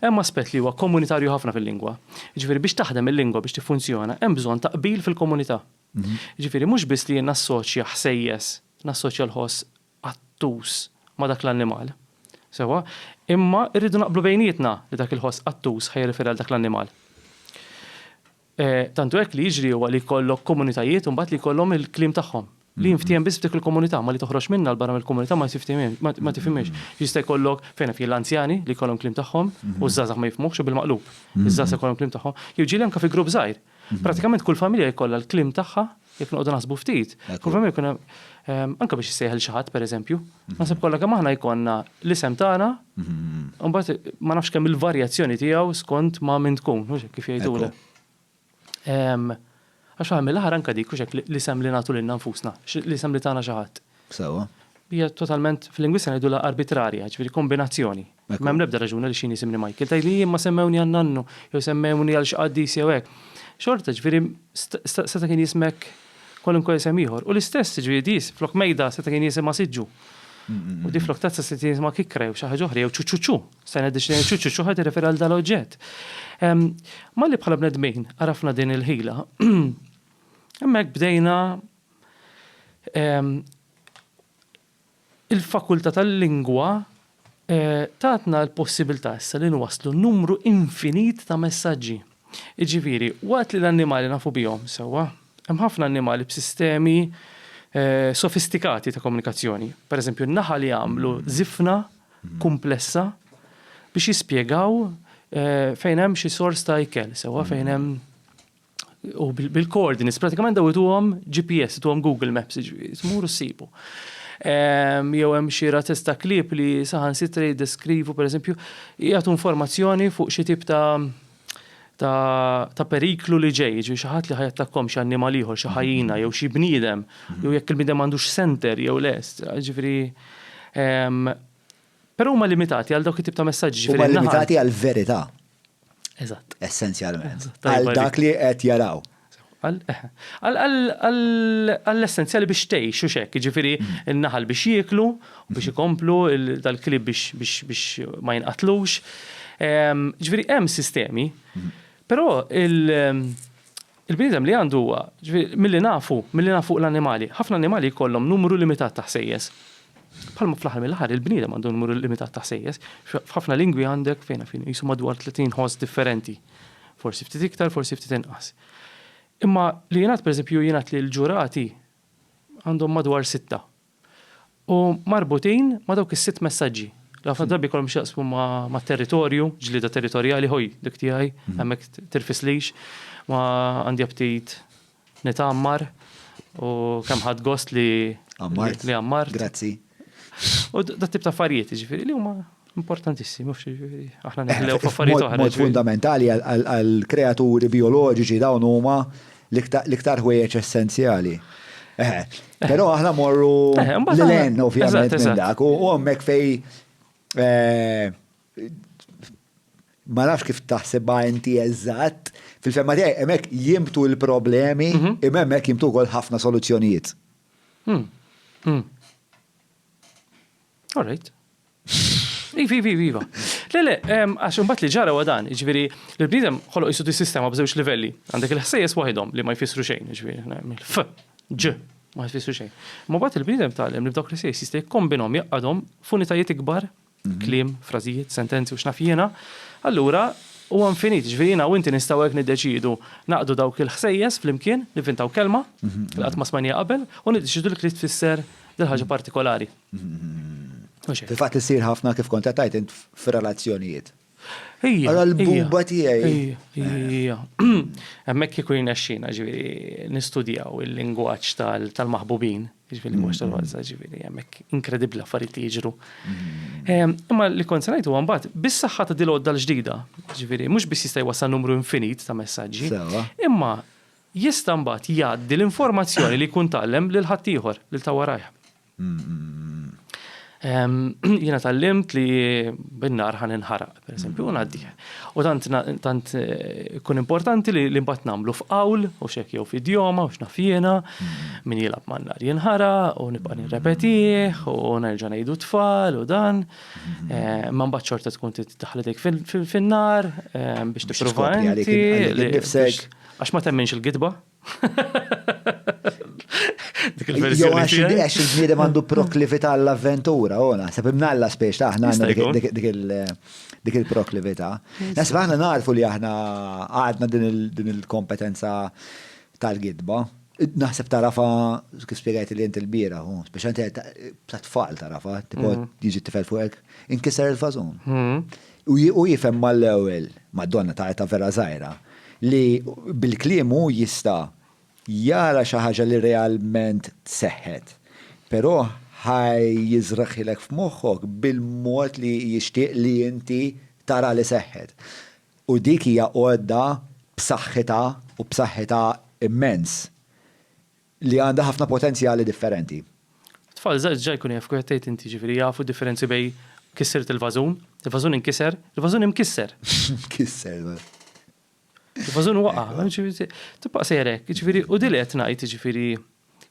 Hemm aspett li huwa komunitarju ħafna fil-lingwa. Jiġifieri biex taħdem il-lingwa biex tiffunzjona hemm bżonn ta' qbil fil-komunità. Jiġifieri mhux biss li jien nassoċja ħsejjes, nassoċja l-ħoss qattus ma' dak l-annimal. Sewwa? Imma rridu naqblu bejnietna li dak il-ħoss qattus ħa jirreferi għal dak l-annimal. Tantu hekk li jiġri huwa li jkollok komunitajiet imbagħad li jkollhom il-kliem tagħhom li jinftiehem biss f'dik il-komunità, imma li toħroġ minnha 'l barra mill-komunità ma tiftiehmiex, ma tifhimhiex. Jista' jkollok, fejn hemm fih l-anzjani li jkollhom kliem tagħhom u ż-żgħażagħ ma jifhmuhx u bil-maqlub. Iż-żgħażagħ ikollhom kliem tagħhom. Jew ġieli anke fi grupp żgħir. Prattikament kull familja jkollha l-kliem tagħha Jekk noqogħdu naħsbu ftit, problemi jkun hemm anke biex issejħel xi ħadd pereżempju. Mhm. Naħseb kollha kemm aħna jkollna l-isem tagħna, mhm. mbagħad ma nafx kemm il-varjazzjoni tiegħu skont ma' min tkun, mhux kif jgħidulu. Għax għal mill-aħħar anke dik hekk l-isem li nagħtu lilna nfusna, l-isem li tagħna xi ħadd. Sewa. Hija totalment fil-lingwista ngħidulha arbitrarja, ġifieri kombinazzjoni. M'hemm l-ebda raġuni għaliex jien jisimni Michael. Tgħidli jien ma semmewni għal nannu, jew semmewni għal xi qaddis jew hekk. Xorta, ġifieri, seta' kien jismek kwalunkwe isem ieħor. U l-istess, ġifieri, di flok mejda seta' kien jisimha siġġu. U di flok tazza seta' kien jisimha kikra jew xi ħaġa oħra jew ċuċuċu. Stajna ddiċnejna ċuċuċu ħa tirreferi għal dan l-oġġett. Malli bħala bnedmin għarafna din il-ħila, hemmhekk bdejna Il-Fakultà tal-Lingwa tatna l-possibilità issa li nwasslu numru infinit ta' messaġġi. Jiġifieri, waqt li l-annimali nafu bihom sewwa, hemm ħafna annimali b'sistemi sofistikati ta' komunikazzjoni. Pereżempju, n-naħal jagħmlu żifna kumplessa biex jispjegaw fejn hemm xi sors ta' ikel sewwa, fejn hemm. u bil-coordinates, pratikament daw ituhom GPS, ituhom Google Maps, tmur u ssibu. Ehm, jew hemm xi razzez ta' klieb li saħan sitra jiddeskrivu, per eżempju, jgħatu informazzjoni fuq xi tip ta' ta', ta periklu li ġej, ġi xaħat li ħajattakkom xi annimal ieħor, xi ħajjina, jew xi bniedem, jew jekk il-bniedem għandux center jew lest, ġifri. Ehm, però huma limitati għal dawk it-tip ta' messaġġi. Huma limitati għal verità. Eżatt. Essenzjalment. Għal dak li qed jaraw. Għall-essenzjali biex tgħix u xek, ġifiri n-naħal biex jieklu, biex ikomplu, dal-klib biex ma jinqatlux. Ġifiri hemm sistemi, però il- Il-bniedem li għandu huwa, ġifieri, milli nafu, milli nafu fuq l-annimali, ħafna annimali jkollhom numru limitat ta' ħsejjes. Bħalma fl-aħħar mill-aħħar il-bniedem għandu numru limitat ta' ħsejjes, f'ħafna lingwi għandek, fejn naf jien, qisu madwar 30 ħoss differenti. Forsi ftit iktar, forsi ftit inqas. Imma li jingħad, pereżempju, jingħad li l-ġurati għandhom madwar sitta. u marbutin ma' dawk is-sitt messaġġi, li ħafna drabi jkollhom x'jaqsmu ma' territorju, ġlieda territorjali, ħoj dik tiegħi, hemmhekk tirfislix, ma għandi aptit nitgħammar u kemm ħadt gost li għammart. Grazzi. U dat tip ta' affarijiet, jiġifieri li huma Importantissimu, xiġifieri, aħna neħlew eh, f'affarijiet oħra. Mod fundamentali għall-kreaturi bioloġiċi dawn huma l-iktar ħwejjeġ essenzjali. Eh, però aħna morru eh, l-len ovvjament minn dak u hemmhekk fej ma nafx kif taħsibha inti eżatt, fil-femma tiegħi hemmhekk jimtu l-problemi, mhm. imma hemmhekk jimtu wkoll ħafna soluzzjonijiet. Hmm. Hmm. All right. Iva, iva, iva, iva. Le, le, għax imbagħad li ġara wa dan, ġifieri l-bniedem ħoloq isu dis-sistema b'żewġ livelli. Għandek il-ħsejjes waħedhom li ma jfissru xejn, ġifieri mill-f, ġ, ma jfissru xejn. Ma bagħad il-bniedem tgħallem li b'dawk l-ħsejjes jista' jikkombinhom jaqgħadhom f'unitajiet ikbar, mhm. kliem, frażijiet, sentenzi u x'naf jiena. Allura huwa infinit, ġifieri jiena u inti nistgħu hekk niddeċiedu naqdu dawk il-ħsejjes flimkien, nivintaw kelma, mhm. qatt ma smajnija qabel, u niddeċidu li trid tfisser dil-ħaġa partikolari. Fil-fatt li ssir ħafna kif kont tajt int fir-relazzjonijiet. Ija. Għal buba tiegħi. Ija. Hemmhekk kieku jnexxina ġifieri nistudjaw il-lingwaġġ tal-maħbubin, ġifieri mhux tal-walza ġifieri hemmhekk inkredibbli affarijiet li jiġru. Mm-hmm. Imma li kont se ngħid huwa mbagħad bis-saħħa ta' dil-għodda l-ġdida, ġifieri mhux biss jista' jwassal numru infinit ta' messaġġi. Imma jista' mbagħad jgħaddi l-informazzjoni li jkun tgħallem lil ħaddieħor lil ta' warajh. Jiena tallimt li bin-nar ħan inħaraq, pereżempju, u ngħaddi. U tant tant eh, kun importanti li li mbagħad nagħmlu f'qawl u xek jew f'idjoma u x'naf jiena min jilgħab man-nar jinħaraq u nibqa' nirrepetih u nerġa' ngħidu tfal u dan. Eh, Ma mbagħad xorta tkun titdaħħlidek fin-nar eh, biex tipprova Skopri għalik inti, għalik nifsek. biex- Għax ma temminx il-gidba, Dik il-verżjoni. Għax il-bniedem għandu proklività għall-avventura, u naħseb imnalla spiex ta' aħna dik il-proklività. Naħseb aħna narfu li aħna għadna din il-kompetenza tal-gidba. Naħseb tarafa, kif spiegħajt li jent il-bira, u spiex għanti ta' tfal tarafa, tipo jiġi t-tifel fuqek, inkisar il-fazon. Hmm. Hu jifhem mal-ewwel, mad-donna ta' età vera żgħira, li bil-kliem hu jista' jara xi ħaġa li realment seħħet, però ħa jiżragħilek f'moħħok bil-mod li jixtieq li inti tara li seħħet. U dik hija għodda b'saħħitha u b'saħħitha immens. li għandha ħafna potenzjali differenti. Tfal żgħar diġà jkunu jafu kif qed tgħid inti, jiġifieri jafu d-differenzi bejn kissirt il-vażun, il-vażun inkiser, il-vażun imkisser. Imkisser, beh. Il-vażun waqa', jiġifieri tibqa' sejjer hekk, jiġifieri u din li qed ngħid jiġifieri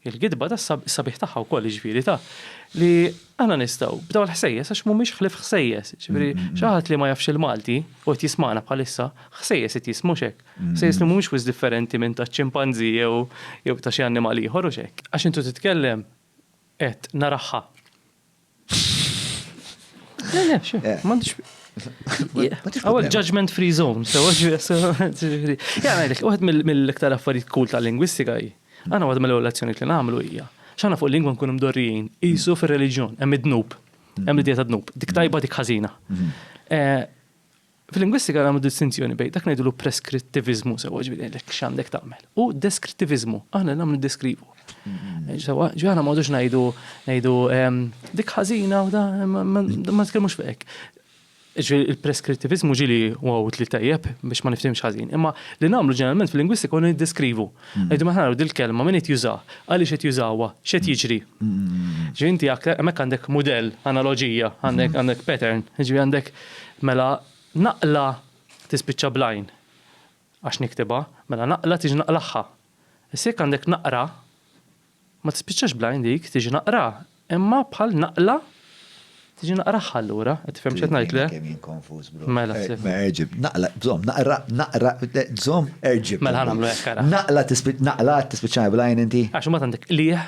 l-gidba tas-sabiħ tagħha wkoll jiġifieri ta' li aħna nistgħu b'dawn il-ħsejjes għax mhumiex ħlief ħsejjes, jiġifieri xi ħadd li ma jafx il-Malti u qed jismagħna bħalissa, ħsejjes qed jismu mhux hekk? Sejs li mhumiex wisq differenti minn taċ-ċimpanżi jew jew ta' xi annimal ieħor, hux hekk? Għax intu titkellem qed naraħħa. Le, le, xi, Eh. m'għandux. Għaw judgment free zone, so ġifiri. Ja, għajdek, uħed mill- mill-iktar affarijiet cool ta' lingwistika hi. Għana għad mill-evoluzzjoni li namlu hija. ċana fuq lingwa nkunu mdorrijin, jisu fil-reġjon, hemm id-dnub, hemm l-idea ta' dnub, dik tajba dik ħażina. Eh, Fil-lingwistika nagħmlu distinzjoni bejn dak ngħidulu preskrittiviżmu sewwa ġifieri ngħidlek x'għandek tagħmel u deskrittiviżmu aħna nagħmlu ndeskrivu. Mm-hmm. Sewwa ġi aħna m'għodux ngħidu ngħidu ehm, dik ħażina u da ma tkellmux fek. Il-preskrittiviżmu ġili wow li tajjeb biex ma niftimx ħażin, imma li nagħmlu ġeneralment fil-lingwistika u niddeskrivu. Mm-hmm. Ngħidu maħna dil-kelma min qed juża, għaliex qed jużawha, x'qed mm-hmm. jiġri. Ġi inti hemmhekk għandek mudell, analoġija, għandek pattern, ġi għandek Mela naqla tispiċċa bl-għajn għax niktibha, mela naqla tiġi naqlagħha. Issa jekk għandek naqra, ma tispiċċax bl-għajn dik, tiġi naqra, imma bħal naqla tiġi naqragħha allura, qed tifhem x'qed ngħid le? Kemm jien konfuż bro. Mela sif. Ma erġib, naqla, żomm, naqra, naqra, żomm, erġib. Mela ħanamlu hekk ara. Naqla tispiċċa, naqla tispiċċa bl-għajn inti? Għax imbagħad għandek qligħ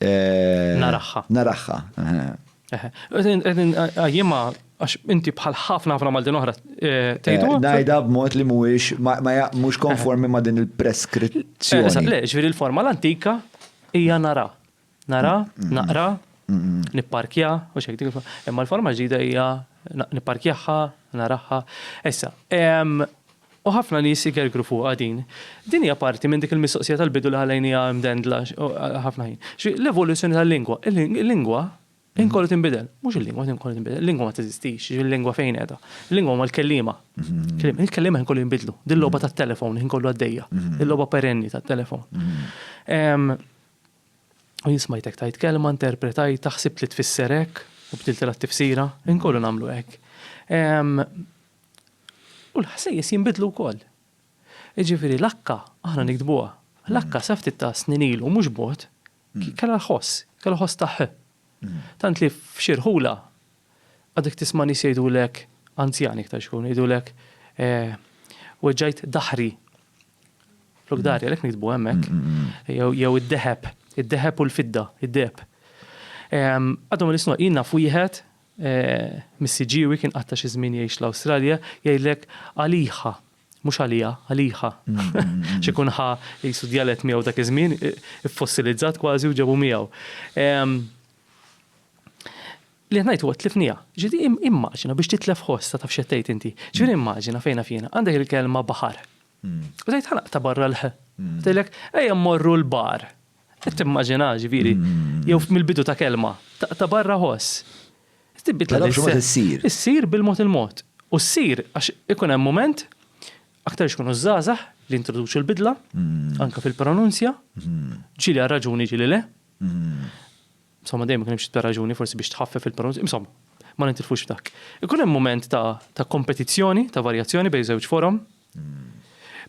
Naraħħa. Naraħħa. Għajjima, għax inti bħal ħafna ħafna Maltin oħra eh, tgħidu. Eh, ngħidha b'mod li mhuwiex ma mhux konformi ma' din il-preskrizzjoni. Eh, le, ġifieri l-forma l-antika hija nara. Nara, naqra, nipparkja, u xejn dik Imma l-forma ġdida hija nipparkjaħħa, naraħħa. Issa, U ħafna nies igergru fuqha din. Din hija parti minn dik il-mistoqsija tal-bidu li ħallejniha imdendla għal ħafna ħin. Ġifieri l-evoluzzjoni tal-lingwa. Il-lingwa ħin kollu tinbidel. Mhux il-lingwa ħin kollu tinbidel. Il-lingwa ma teżistix. Jiġifieri l-lingwa fejn qiegħda? Il-lingwa huma l-kelliema. Il-kelliema ħin kollu jinbidlu. Din logħba tat-telefon ħin kollu għaddejja. Din logħba perenni tat-telefon. U jien smajtek tgħid kelma, interpretajtha, ħsibt li tfisser hekk u bdiltilha t-tifsira. Ħin kollu nagħmlu hekk. U l-ħsejjes jinbidlu wkoll. Jiġifieri l-akka aħna niktbuha. L-akka sa ftit ta' snin ilu mhux bogħod kellha l-ħoss, kellha ħoss ta' ħ. Tant li f'xi rħula għadek tisma' nies jgħidulek, anzjani iktar xi jkunu, jgħidulek weġġajt dahri. Flok dahri għalhekk niktbu hemmhekk. Jew id-deheb, id-deheb u l-fidda, id-deheb. Għadhom il-isnod, jien naf wieħed Missi Ġiewi kien qatta' xi żmien jgħix l-Awstralja, jgħidlek għaliha, mhux għaliha, għaliha, għax ikun ħa qisu djalett miegħu dak iż-żmien, iffossilizzat kważi u ġabu miegħu. Li qed ngħid huwa tlifniha. Ġifieri immaġina biex titlef ħoss, taf x'qed tgħid inti. Ġifieri immaġina fejn naf jiena, għandek il-kelma baħar. U tgħid ħa naqta' barra l-ħ. Tgħidlek ejja mmorru l-bar. Timmaġina, ġifieri, mm. jew mill-bidu ta' kelma, ta' barra ħoss. Tibbit la issir. Issir bil-mod il-mod. U ssir għax ikun hemm moment aktar xkunu żgħażagħ li introduċu l-bidla, mm. anka fil-pronunzja, mm. ġili għal raġuni ġili le. Mm. Insomma, dejjem kien hemm raġuni forsi biex tħaffef il-pronunzja, insomma, ma nintilfux f'dak. Ikun hemm moment ta' kompetizzjoni, ta' varjazzjoni bejn żewġ forom,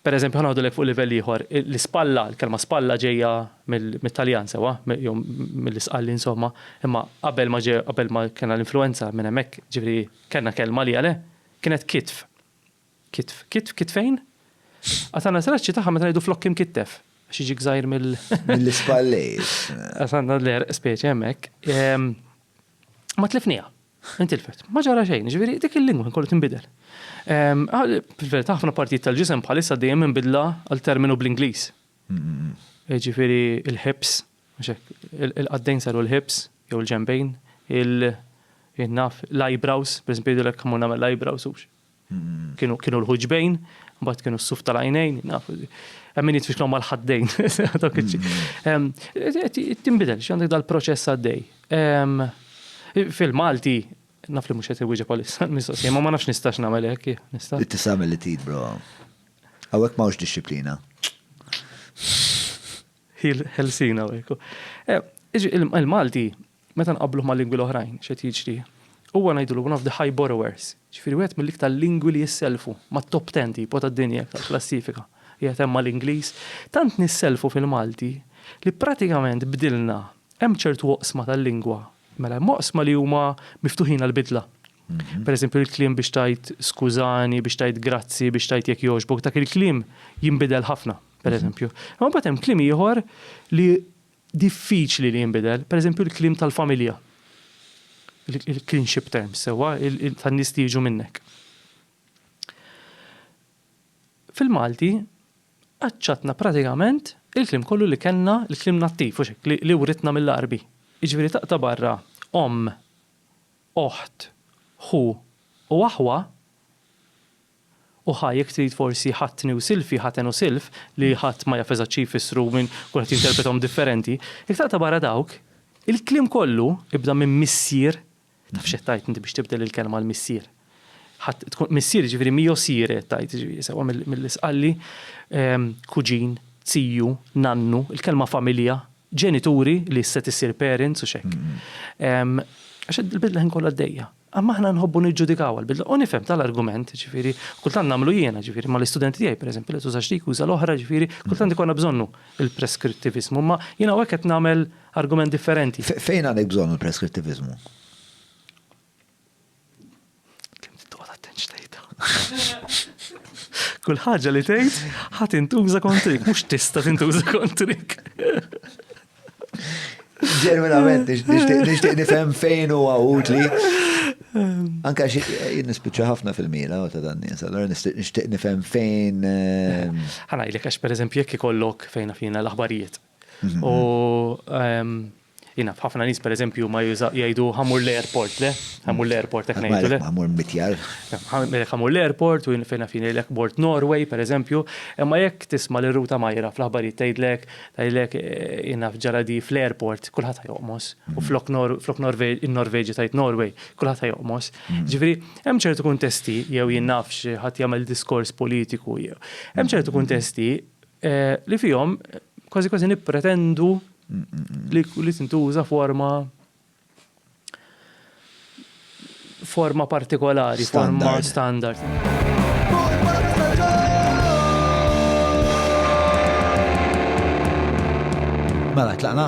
Pereżempju, ħa ngħidulek fuq livell ieħor, l-ispalla, il-kelma spalla ġejja mit-Taljan sewwa, jew mill-isqalli insomma, imma qabel ma ġew qabel ma kellna l-influwenza minn hemmhekk, ġifieri kellna kelma għaliha le, kienet kitf. Kitf, kitf, kitfejn? Għad għandna traċċi tagħha meta ngħidu flokk imkittef, għax jiġi gżajr mill. Mill-ispallejr. Għad għandna l-għerq speċi hemmhekk. Ma tlifniha. Intilfet. Ma ġara xejn, jiġifieri dik il-lingwa kien kollu tinbidel. Fil-verità ħafna partijiet tal-ġisem bħalissa dejjem hemm bidla għal terminu bl-Ingliż. Jiġifieri l-hips, mhux hekk, il-qaddejn saru l-hips jew il-ġenbejn, il-naf, l-eyebrows, pereżempju jgħidulek mur nagħmel l-eyebrows hux. Kienu l-ħuġbejn, mbagħad kienu s-suf tal-għajnejn, naf. Hemm min jitfixlhom mal-ħaddejn. Tinbidel, xi għandek dal-proċess għaddej. Fil-Malti, naf li mhux qed iwieġeb bħalissa l-mistoqsija, ma ma nafx nistax nagħmel hekk, nista'. Tista' tagħmel li trid, bro. Hawnhekk m'hawnx dixxiplina. Ħelsina hekk. Il-Malti Meta nqabbluh ma' lingwi l-oħrajn, x'qed jiġri? Huwa ngħidulu one of the high borrowers, jiġifieri wieħed mill-iktar lingwi li jissellfu, mat-top ten tipo tad-dinja tal-klassifika, qiegħed hemm mal-Ingliż. Tant nissellfu fil-Malti li pratikament bdilna, hemm ċertu oqsma tal-lingwa, mela hemm oqsma li huma miftuħin għall-bidla. Per eżempju l-kliem biex tgħid skużani, biex tgħid grazzi, biex tgħid jekk jogħġbok, dak il-kliem jinbidel ħafna, per eżempju. Imma mbagħad hemm kliem ieħor li diffiċli li jinbidel, pereżempju l-kliem tal-familja, il-kinship terms, sewwa, tan-nies li jiġu minnek. Fil-Malti aċċattna pratikament il-kliem kollu li kellna, il-kliem nattiv, mhux hekk, li writna mill-Għarbi. Jiġifieri taqta' barra omm, oħt, ħu u aħwa, U ħa jekk trid forsi ħatni u silfi, ħaten u silf, li ħadd ma jaf eżatt xi jfissru, min, kulħadd jinterpretahom differenti, jekk taqta' barra dawk, il-kliem kollu, ibda minn missier, taf x'qed tgħid inti biex tibdel il-kelma għal missier? Ħadd tkun missier jiġifieri miosire qed tgħid, jiġifieri sewwa mill-Isqalli, kuġin, ziju, nannu, il-kelma familja, ġenituri li issa qed issir parents u x'hekk. Għax il-bidla l-ħin kollu għaddejja. Imma aħna nħobbu niġġudikaw għall-bidla u nifhem tal-argument, ġifieri, kultant nagħmlu jiena, ġifieri, ma l-istudenti tiegħi pereżempju li tużax dik uża l-oħra, ġifieri, kultant ikollna bżonnu l-preskrittiviżmu, imma jien hawnhekk qed nagħmel argument differenti. Fejn għandek bżonnu l-preskrittiviżmu? Kemm trid toqgħod attent x'tgħidha. Kull ħaġa li tgħid ħa tintuża kontrik, mhux tista' tintuża kontrik. Ġenwinament, nixtieq nifhem fejn u utli. Anka xi nispiċċa ħafna fil-mira ta' dan nies, allora nixtieq nifhem fejn. Ehm, Ħana jilek għax pereżempju jekk ikollok fejn fina l-aħbarijiet. Mhm. U ehm, jina ħafna nies pereżempju ma jgħidu ħamur l-airport le, ħamur l-airport hekk ngħidu le. Ħamur mitjar. Ħamur l-airport u fejn fina l-ekbort Norway pereżempju, imma jekk tisma' l-ruta majra fl-aħbarijiet tgħidlek Tgħidlek jien naf ġara di fl-airport kulħadd ħa joqmos u flok in-Norveġja tgħid Norway kulħadd ħa joqmos. Mm. Ġifieri hemm ċertu kuntesti jew jien naf xi ħadd jagħmel diskors politiku jew. Hemm ċertu mm. kuntesti eh, li fihom kważi kważi nippretendu li tintuża forma forma partikolari, forma standard. Mela, tlaqna?